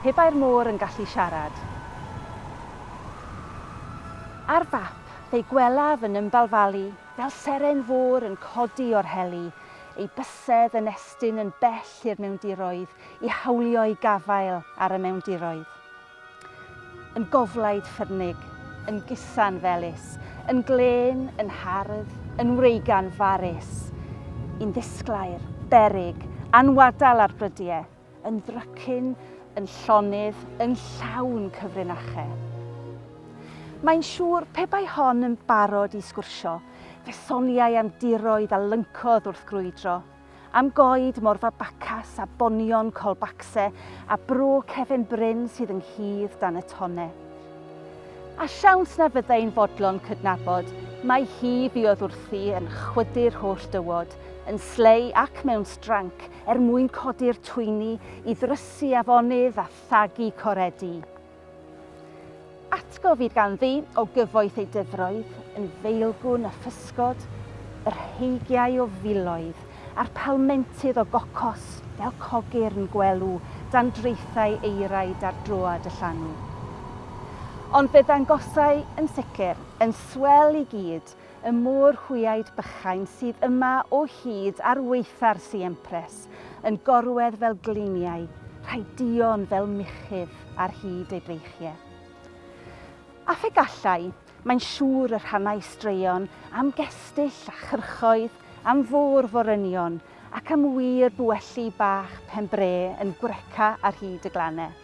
Pe bai'r môr yn gallu siarad. Ar fap, fe'i gwelaf yn ymbalfalu fel seren fôr yn codi o'r heli, ei bysedd yn estyn yn bell i'r mewndiroedd i hawlio'i gafael ar y mewndiroedd. Yn goflaid ffyrnig, yn gusan felys, yn glên, yn hardd, yn wreigan farus. Yn ddisglair, beryg, anwadal ar brydie, yn ddrycin, yn llonydd, yn llawn cyfrinache. Mae'n siŵr, pe bai hon yn barod i sgwrsio, fe soniai am diroedd a lyncodd wrth grwydro. Am goed Morfa Bacas a bonion Colbacse a bro Cefn Bryn sydd ynghudd dan y Tonne. A siawns na fyddai'n fodlon cydnabod mai hi fuodd wrthi yn chwydu'r holl dywod, yn slei ac mewn stranc, er mwyn codi'r twyni i ddrysu afonydd a thagu coredi. Atgofid ganddi o gyfoeth ei dyfroedd, yn feilgwn a physgod, yr heigiau o filoedd, a'r palmentydd o gocos, fel cogyrn gwelw dan draethau eiraid ar droad y llanw. Ond fe ddangosai, yn sicr, yn swel i gyd, y mor hwyaid bychain sydd yma o hyd ar waetha'r Siempres, yn gorwedd fel gliniau, rhai duon fel muchudd ar hyd ei breichiau. A phe gallai, mae'n siŵr y rhannai straeon am gestyll a chyrchoedd, am fôr forynion, ac am wir buelli bach pen-bre yn gwreca ar hyd y glannau.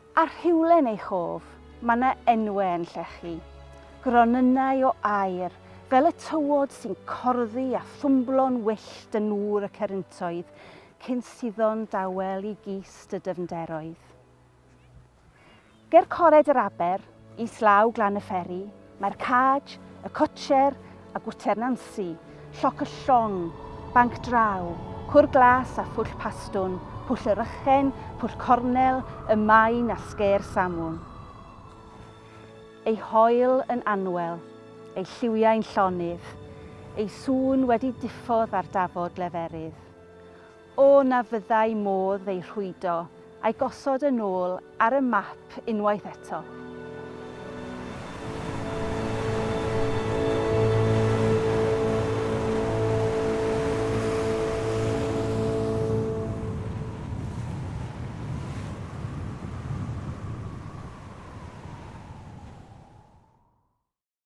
A rhywle'n ei chof, mae 'na enwe yn llechu. Gronynnau o aer, fel y tywod sy'n corddi a thwmblo'n wyllt yn nŵr y ceryntoedd, cyn suddo'n dawel i gist y dyfnderoedd. Ger cored yr aber, Islaw Glan y Fferi, mae'r Caj, y Cotcher a Gwter Nansi, Lloc y Llong, Banc Draw, Cwr Glas a Phwll Pastwn, Pwll y Rychen, Pwll Cornel, y Maen a Sgêr Samwn. Ei hoel yn anwel, ei lliwiau'n llonydd, ei sŵn wedi diffodd ar dafod leferydd. O na fyddai modd ei rhwydo a'i gosod yn ôl ar y map unwaith eto.